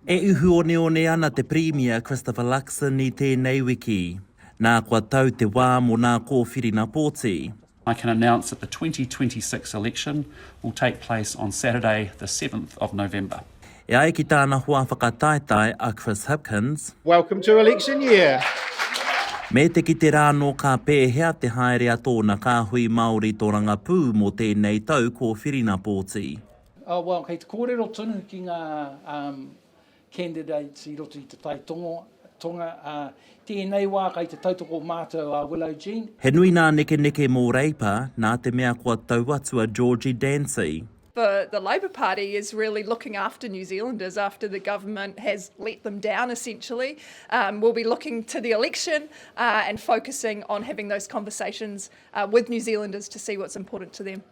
E uhu oneone ana te Pirimia Christopher Luxon i tēnei wiki. Nā kua tau te wā mō nā kōwhirina pōti. I can announce that the twenty twenty six election will take place on Saturday the seventh of November. E ai ki tāna hoa whakataetae a Chris Hipkins. Welcome to election year! Me te kite rānō ka pēhea te haere a tōna kāhui Māori torangapū mō tēnei tau kōwhirina pōti. Oh well, kei te kōrero tonu ki ngā um, candidates i roto i te tai tongo, tonga, ā, tēnei wā kai te tautoko mātou a Willow Jean. He nui nā nekeneke mō Reipa, nā te mea kua tau atu a Georgie Dancy. The, the Labour Party is really looking after New Zealanders after the government has let them down, essentially. Um, we'll be looking to the election uh, and focusing on having those conversations uh, with New Zealanders to see what's important to them.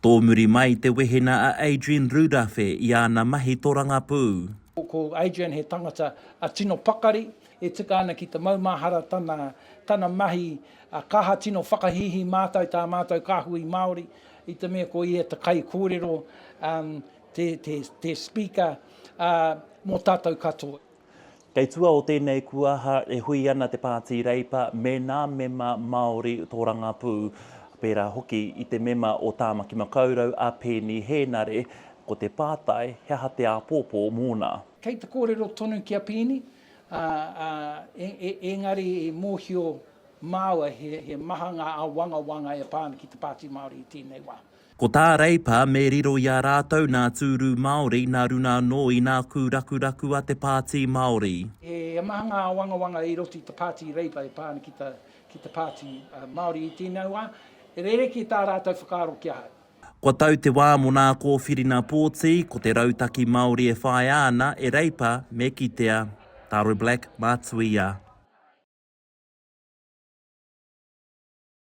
Tōmuri mai te wehena a Adrian Rudafe i ana mahi torangapū. Ko Adrian he tangata tino pakari, E tika ana ki te maumahara tana, tana mahi, ā, ka aha tino whakahīhī mātou tā mātou kāhui Māori i te mea ko ia te kaikōrero, um, te, te, te speaker, ā, mō tātou katoa. Kei tua o tēnei kuaha e hui ana te Pāti Reipa me nā mema Māori tōrangapū, pērā hoki i te mema o Tāmaki Makaurau a Peeni Hēnare, ko te pātai he aha te āpōpō mōna. Kei te kōrero tonu ki a Peeni, Ā, ā, e, e, engari i mōhio māua he, he maha ngā āwangawanga e pā ana ki te Pāti Māori i tēnei wā. Ko tā Reipa, me riro i a rātou nā tūru Māori, nā runga anō i nā kūrakuraku a te Pāti Māori. He maha ngā āwangawanga i roto i te Pāti Reipa e pā ana ki te, ki te Pāti Māori i tēnei wā. Rerekē tā rātou whakaaro ki ahau. Kua tau te wā mō nā kōwhirina pōti, ko te rautaki Māori e whāia ana e Reipa me kitea. Taro Black, Mātuia.